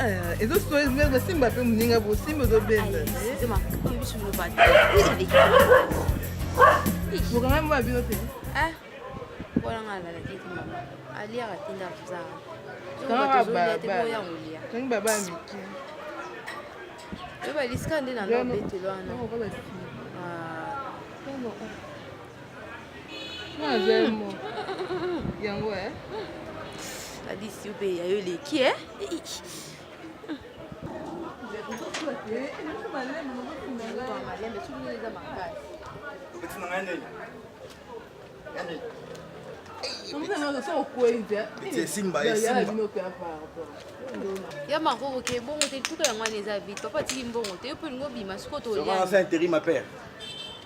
Eh, ezo simba mpe moninga bosimba ozobenda bokanga mwa bino te tangi baba ya mike oyebalisika nde na lobetelo wana Alice yo mpe ya yo eleki e ya makoko ke bongo te tuka yango wana eza vite papa atiki mbongo te yo mpe olingi obima sikoyo toliainterim ma père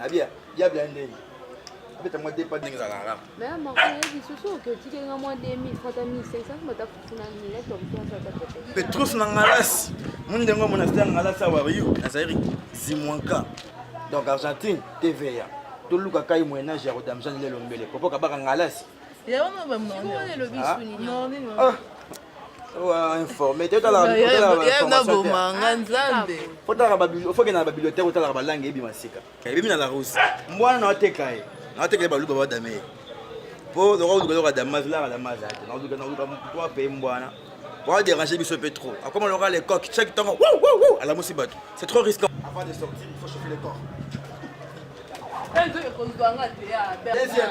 abia bia bia ndenge abeta mwa depa ndenge ezalaka kaka mais amako yebi susu oke otiki nga mwa 2000 fata 1500 bata kufuna nile to mpenza ta pepe petrus na ngalasi moni ndenge omona sita ngalasi awa yo azali zimwanka donc argentine tva toluka kai moyen age ya kodamisa nile lombele popo kabaka ngalasi yango mabamnonelo bisu nini ofokenda na babibliothèque otalaka balange eyebi masika eyebi na la russe mbwana na ateka ye na ateka ye baluba badame ye mpo loka oluka loka damas laka damas ate naoluka naoluka mwa mpe mbwana po aderange biso mpe trop akoma loka le coq chaque ntango alamusi bato c'est trop risquant avant de sortir il faut chauffer le corps Deuxième.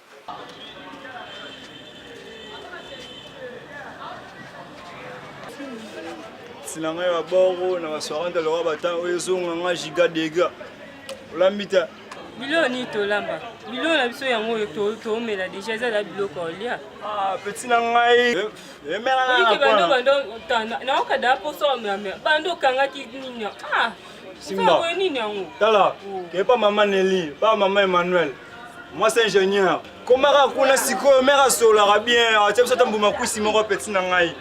na ngai ya boro na basoirante lokola batan oyo ezonga ngai giga dega olambi te biloko nini tolamba biloko na biso yango oyo toomela deja eza na biloko olia ah, peti na ngai naokada mposo omela bando okangaki nini ah, simba nini yango tala oh. kepa mama neli pa mama emmanuel mwasi ingénieur komaka kuna sikoyo mere asololaka bien atia biso ata mbuma kwisi moko apeti na ngai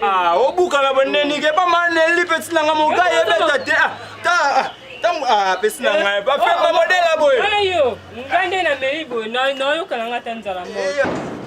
ah, obukana bonenike epa maneli peti na ngai mokai ebeta te ah, ah, ntango apesi na ngai bafemba modela boye ngai nde nameli boye nayokana ngai ata nzala moko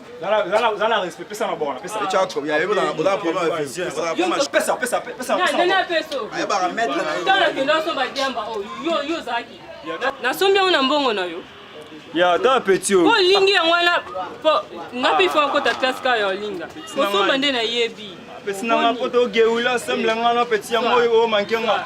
nasombi yango na mbongo na yo ya ata petit oyo olingi yango wana nga mpe ifo akota classe kaka ya olinga kosomba nde nayebi pesi nanga poto ogeula semble nga na peti yango oyo omanke nga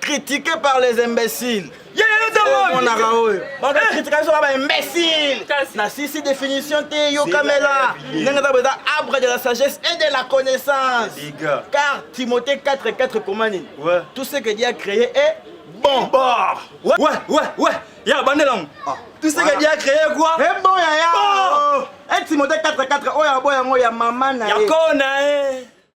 critiqué par les imbéciles omonaka oyo bakritika biso kaba imbécile na sisi définition te yokamela ndenge eza boeza arbre de la sagesse et de la connaissance car timothée 4 4 koma nini tout ce que dieu a créé est bon bah. ouais ouais ouais ya bandelango ah. tout ce que dieu a créé quoi est bon yaya et timothée 4 4 oyo aboyango ya mama na ye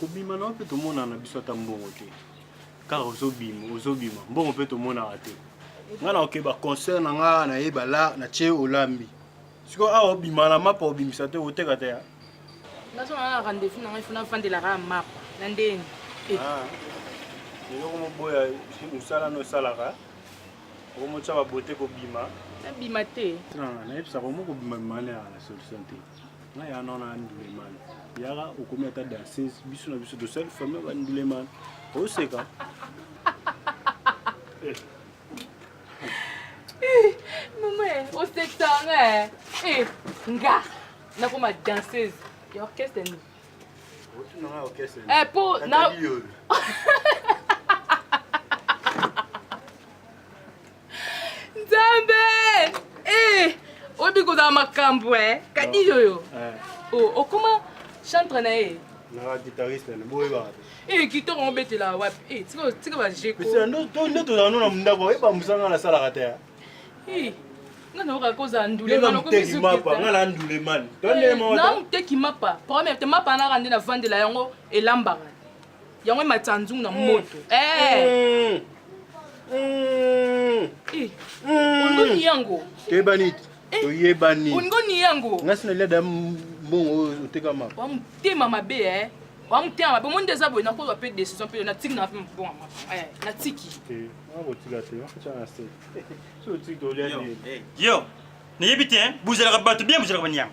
kobima na yo mpe tomonana na biso ata mbongo te kaka ozobima ozobima mbongo mpe tomonaka te ngai naoke baconcert na ngai naye bala na tie olambi sikoyo awa obima na mapa obimisa te oteka te nazonga na rendez-vous na ngai fona afandelaka ya mapa na ndeni eh. ah. eloko moboya mosala no osalaka okomotya babote kobima nabima te nayebisaka omo kobima bima na solution te ngai ya nona ya ndulemani yaka okomi ata danseuse biso na biso tosali famille ya bandulemani oseka mama osekisa nga eh, nga nakoma danseuse ya orchestre nini eh, po na Nzambe! Eh, obi kozala makambo eh. Kadi yoyo. Eh. Oh, okoma chantre na ye. Na guitariste na boye ba. Eh, kitoko obetela wapi? Eh, tika tika ba jeko. Pesa ndo to ndo to na mundako, oye ba musanga na sala kata ya. Eh. nga nayoka kozala ndulemanteki mapa nga na ndulemani eh, na moteki mapa première te mapa naka nde navandela yango elambaka yango ematisa nzungu na mm. moto eh. mm. eh. olingoni yango toyebani eh. toyebani olingoni yango ngasi nalia da mbongo oyo otekama wa motema mabe e wa motema mabe omoni nde eza boye nakozwa mpe décision mpe natiki na mpe mbongo natiki okotika te okotia na se soki otiki tolia yo nayebi te buzelaka bato bien buzelaka baniama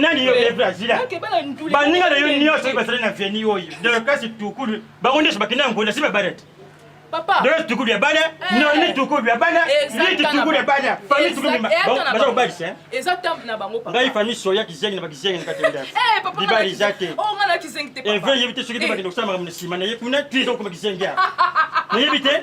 nani yo evre azila baninga na yo nyonso soki basali na veni oyo deklasi tukulu bango nyonso bakende na ngonda si babala te deklasi tukulu ya bana noni tukulu ya bana liti tukulu ya bana fami tukulu baza kobalisa ngai fami soya kizengi na bakizengi na katenda libala eza te evre yebi te soki te bakende kosala makambo na nsima na ye kuna tu ezokoma kizengi ya nayebi te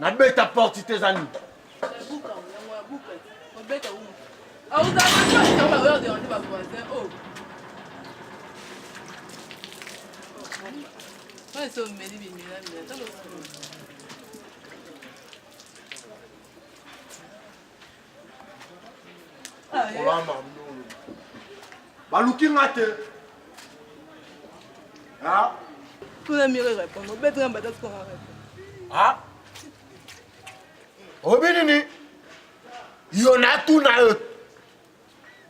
nabeta porte te eza nini kolamba ndolo baluki nga te tuna mire répondre obeti nga mbata tukanga répondre obi nini yo natuna yo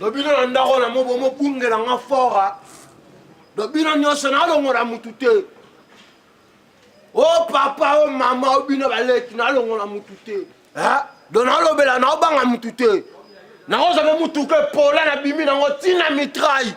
do bino na ndako na mo bomobungela nga fora do bino nyonso nalongola mutu te o oh, papa o oh, mama o oh, bino baleki nalongola mutu te do nalobela naobanga mutu te nakozwa mpe motuka epola nabimi nango ntina mitraille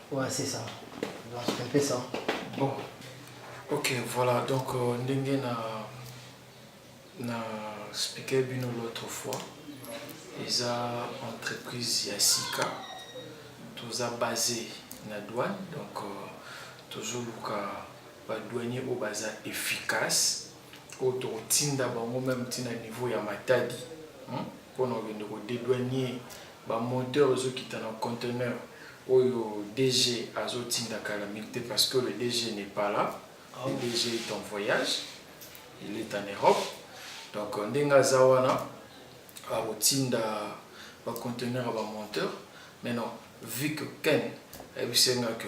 Ouais, c'est ça. Non, c'est un peu ça. Bon. Ok, voilà. Donc, euh, ndenge na na expliqué bino l'autre fois. Eza entreprise ya sika. Toza basé na douane. Donc, euh, toujours luka ba douanier au baza efficace. Oyo tokotinda bango même tina niveau ya matadi. Hmm? pona okende ko dedouanier ba moteur ezo kita na conteneur oyo DG azo tinda kala mingi te parce que le DG n'est pas là le ah DG est en voyage il est en Europe donc euh, ndenge aza wana akotinda ba conteneur ya ba monteur mais non vu que Ken ayebisi nga que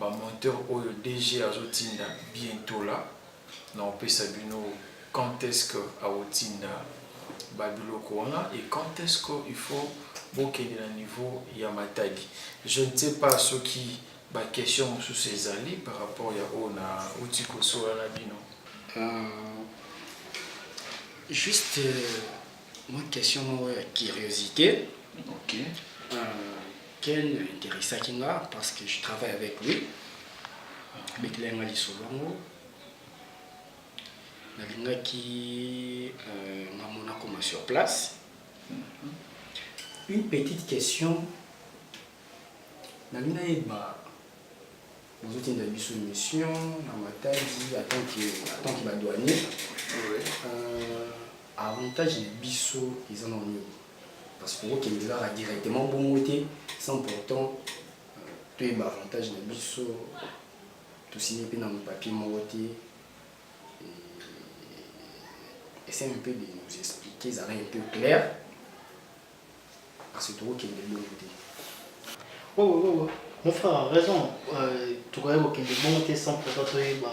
Ba monteur oyo DG azo tinda bientot la nao pesa bino quand est-ce que ako tinda ba biloko wana et quand est-ce que il faut bo kende na niveau ya Matadi. Je ne sais pas soki ba questions mosusu ezali par rapport ya oyo na uti ko solola na bino. Euh, juste euh, mwa question moko ya curiosite. Okay. Euh, Ken interessaki nga parce que je travaille avec lui abetelaki nga lisolo yango nalingaki euh, nga mona koma sur place une petite question nalingi nayeba bozotinda biso mission na matadi atanke badouanier euh, avantage na biso eza na nini Parce que okende kaka directement bongo te sans pourtant euh, toyeba avantage na biso tosigne mpe na mopapier moko te essaye un peu de nous expliquer ezala un peu clair parce que tokokende bongo te oh, oh, oh. mon frère raison euh, tokoki kokende bongo te sans pourtant toyeba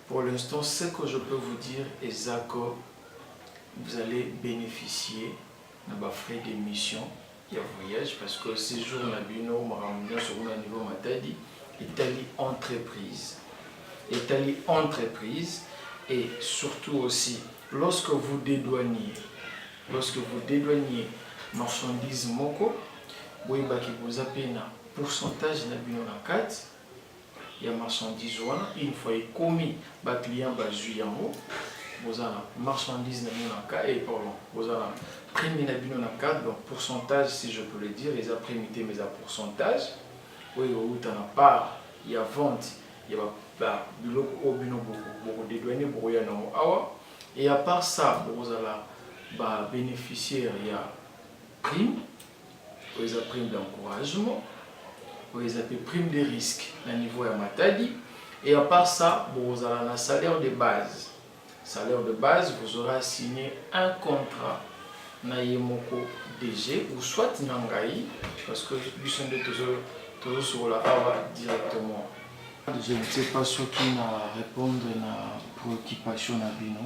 Pour l'instant ce que je peux vous dire eza que vous allez beneficier na ba frais d'emission ya voyage parce que séjour na bino makambo nyonso kuna niveau matadi etali entreprise etali entreprise et surtout aussi lorsque vous dédouaniez lorsque vous dédouaniez marchandise moko boyebaki boza mpe na pourcentage na bino na kati ya marchandise wana une fois ekomi ba clients bazui yango boza na marchandise na bino na cas et pardon boza na prime na bino na cas donc pourcentage si je peux le dire eza prime te mais eza pourcentage oyo ekowuta na part ya vente ya biloko oyo bino bokodedwane bokoya nango awa et à part ça bokozala ba bénéficiaire ya prime oyo eza prime d'encouragement oyo eza mpe prime de risque na niveau ya matadi et à part ça bokozala na salaire de base salaire de base vous aurez signé un contrat na ye moko DG ou soit na ngai parce que biso nde tozosokola awa directement je ne sais pas soki na répondre na préoccupation na bino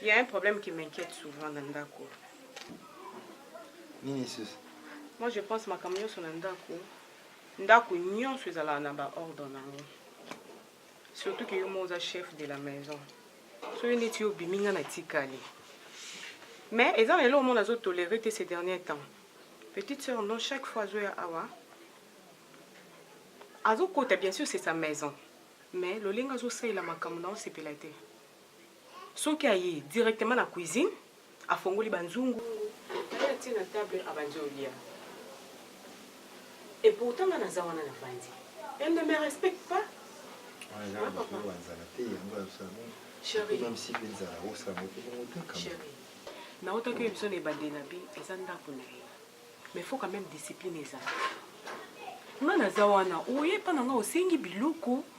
Il y a un problème qui m'inquiète souvent na ndako. Nini sisi? Moi je pense makambo nyonso na ndako. Ndako nyonso ezalaka na ba ordre na yango. Surtout que yo moko oza chef de la maison. Soki neti yo obimi nga natikali. Mais eza na eloko moko nazo tolere te ces derniers temps. Petite sœur non chaque fois azoya awa azokota bien sûr c'est sa maison mais lolenge azosalela makambo na osepela te Soki aye directement na cuisine, afongoli ba nzungu, naye atie na table abandi olia. Et pourtant nga naza wana navandi. Elle ne me respecte pas. Hein papa? Chérie. Chérie. Naotaki oyo biso na ebandeli na bi eza ndako na ye. Mais faut quand même discipline ezala. Nga naza wana, oye epa na nga osengi biloko,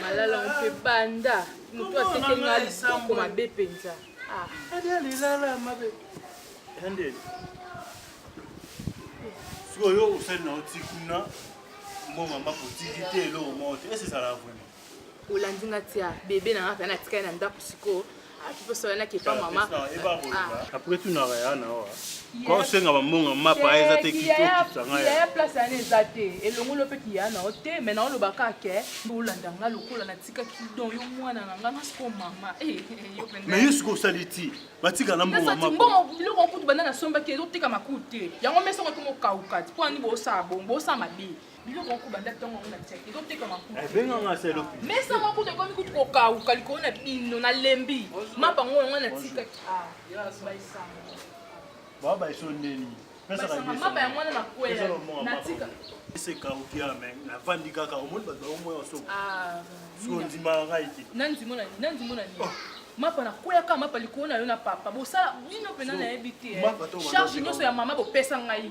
malala mpe banda moto ateke nga lisoko mabe mpenza ah. sikoyo osali na oti kuna mbongo mba kotiki te eloko moko te ese ezala vraimen olandi nga tia bebe na nga pe na tikali na ndako sikoyo akiposolanaki epa mama apres tunaka ya na oa kosenga bambonga mapa eza te kitokisangaya place yana eza te elongolo mpe kiya na yo te mai naoloba kaka ke olanda nga lokola natika kidon yo mwana na nga nasiko mama mai yo siko osali ti batika na mbongambongo biloko okutu banda nasombaki ezotekama kutu te yango mesa okokoma okauka ti mpo ani bosala bongo bosala mabe biloko oko banda ntango yango na tiaki ezotekama ebenganga eh, selo mesa mwa kutu ekomi kutu kokauka likolo na bino nalembi mapa yango yango natikaki ah, baa baiso ndeni mapa yango wana nakwela natika esekauki ame navandi kaka omoni bato baomoya osoko ah, soko ondimaka ngai te nandimo na nini nandimo na nini oh. mapa nakweyaka mapa likolo na yo na papa bosala bino mpena nayebi te eh. charge nyonso ya mama bopesa ngai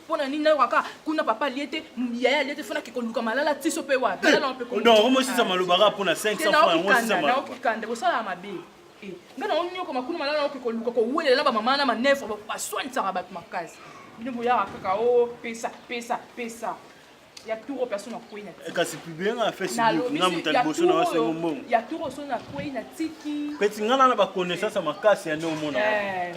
pona nini nayoka kaka kuna papa alie te yaya alie te fona kekoluka malala tiso mpe wapi omosisa maloba kaka mpona 500 bosalaka mabe eh, nga na onyoko makuna malala oke koluka kowelela na bamama na manefre baswanisaka bato makasi bino boyaka kaka o oh, pesa pesa pesa ya tour oyo personne akwei na eh, kasi publie nga na facebook nga moto ya liboso na wasengo mbongo ya tour oyo soni akwei na tiki peti nga nana baconnaissance ya makasi ya nde omona eh,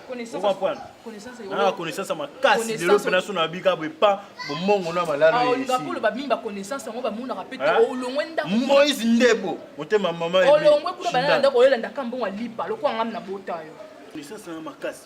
nana connaissance ya makasi lelo mpe naso na babika boye pa bomongo na malaloolobakolo babimi baconnaissance yango bamonaka mpe te olongwe ndako moise ndebo motema mama olongwe kuna banana ndako oyolanda ka mbongo alipa lokola ngami na bota yo connaissance na makasi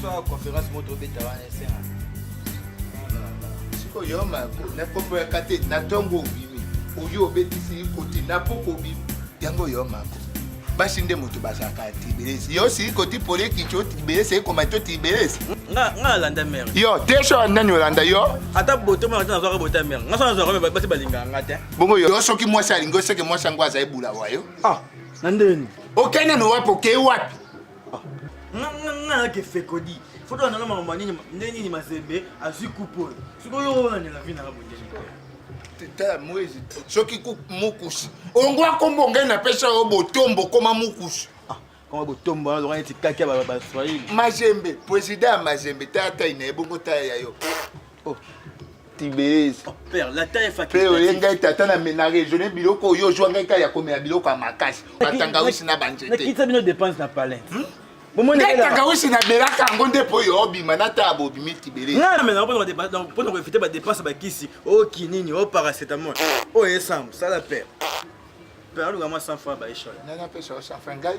Soit conférence moto obeta wana esenga. Siko yo ma na kombo ya kate na tongo obimi. Oyo obetisi koti na poko obimi. Yango yo ma ko. Basi nde moto bazalaka tibelesi. Yo si koti pole kicho tibelesi ekoma to tibelesi. Nga nga landa mère. Yo tesho nani olanda yo? Ata boto mwana tana zwa boto mère. Nga sana zwa basi balinga nga te. Bongo yo soki mwasi alingi oseke mwasi yango azali bula wayo. Ah, na ndeni. Okende no wapi okei wapi? nganake fekodi foto wanana makambo nini nde nini mazembe azwi kupe oyo sikoyo oyo olandela vi nanga bondeni tala mwezi soki mukusi ongwa kombo ngai napesa yo botombo koma mukusi ah, koma botombo wana loka neti kaki ya baswahili mazembe president ya mazembe tala tai na ye bongo tala ya yo Oh. tibes oh, mpe oye ngai tata na mena regione biloko oyo ozwa ngai kaka ya komela biloko ya makasi batangawisi na banzeteyetaka wisi na belaka yango nde mpo oyo obima na taa bobimi tibelesmpona koevite badepense bakisi o kinini o paracetamol oyo esambo sala pere pere alukama 100 franc baishole nani apesa yo 100 franc ngai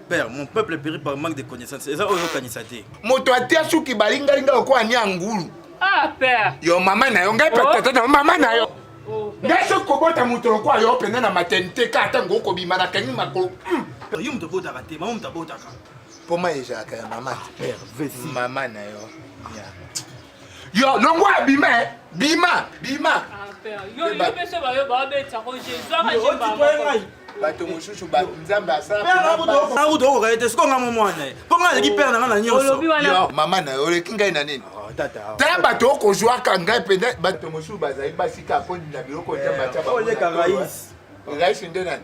père mon peuple périt par manque de connaissance eza oyo okanisa te moto atia suki balingalinga lokola nia ngulu ah père yo mama na yo ngai oh. patata na mama na yo oh, oh, ngai soki kobota moto lokola yo mpenza na maternité ka ata ngo okobima na kangi makolo hmm. yo moto obotaka te mama moto abotaka mpo mai ezalaka ya mama te mama na yo Yo longwa bima eh. bima bima. Ah, père. Yo yo pesa ba yo ba beta ko Jésus a ba. bato mosusu nzambe asalakuta okoka ye te sikoyo nga momwana ye mpo nga aleki pere na nga na nyonso mama na yo oleki ngai na nini oh, tala bato okozwaka ngai mpenza bato mosusu bazali basika mpo na biloko nzambe atya rais nde nani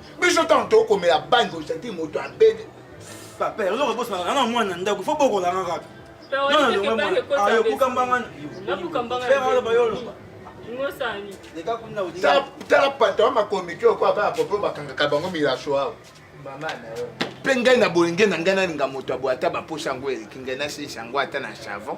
biso ntango tokomela bangi ozalaki moto abede papa oza kobosana kanga mwana ndako fo bokolanga kaka tala patron makomiki oko aba ya popo bakangaka bango milaso awa mpe ngai na bolenge na ngai nalinga moto aboye ata baposa yango eleki ngai nasesa yango ata na savon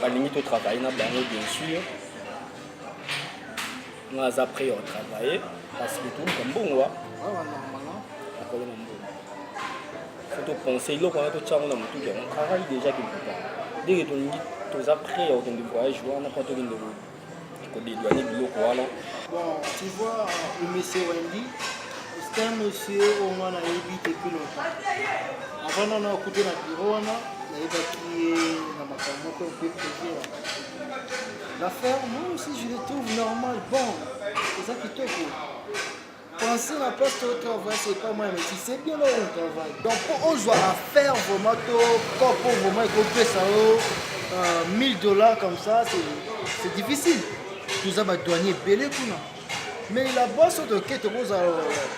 balingi to travailler na bango bien sûr nga aza prêt ya travailler parce que toluka mbongo akolo na mbongo faut topense eloko wana totya yango na motuki yango travaille déjà quelque part ndenge tolingi toza prêt ya kokende voyage wana mpo tokende ko dedouaner biloko wana bon tu vois le monsieur Wendy c'est un monsieur au moins nayebi depuis longtemps avant nano akuti na bureau wana nayebaki ye na makambo moko mpe projet l'affaire moi aussi je le trouve normal bon eza kitoko Penser na place to travail c'est pas moi mais tu sais bien là on travaille. Donc pour ozwa affaire vraiment to corps pour vraiment ko pesa yo 1000 dollars comme ça c'est c'est difficile. Toza ba douanier belé kuna. Mais la bosse de kete boza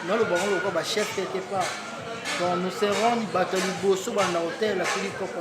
na lo bango ko ba chef quelque part. Donc nous serons bato liboso banda hotel asili kopa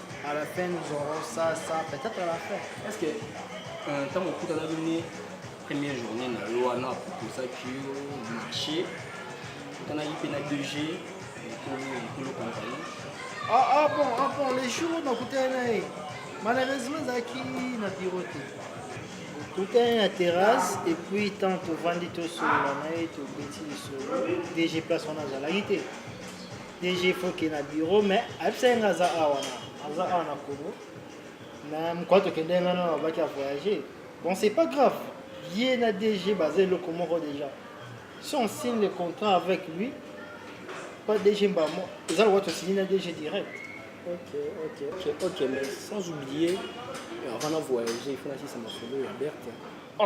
à la fin nous aurons ça ça peut-être à la fin est-ce que euh, ntango okutanaki nde première journée na yo wana aproposaki yo marché okutanaki mpe na 2g ekolo compagnie ah, ah bon ah bon les jours nakutana na ye malheureusement ezalaki na biro te totali na terrasse et puis tant tovandi tosolola na ye tobeti lisolo dg place wana azalaki te DG Foke na bureau mais ayebisa ye nga aza awa na aza awa na Congo mais mokwa tokende nga na babaki ya voyager bon c'est pas grave ye na DG baza eloko moko déjà si on signe le contrat avec lui pas DG mbamo eza lokola tosigni na DG direct Ok, ok, ok, ok, mais sans oublier, euh, avant de voyager, il faut la ça m'a sauvé, la Berthe. oh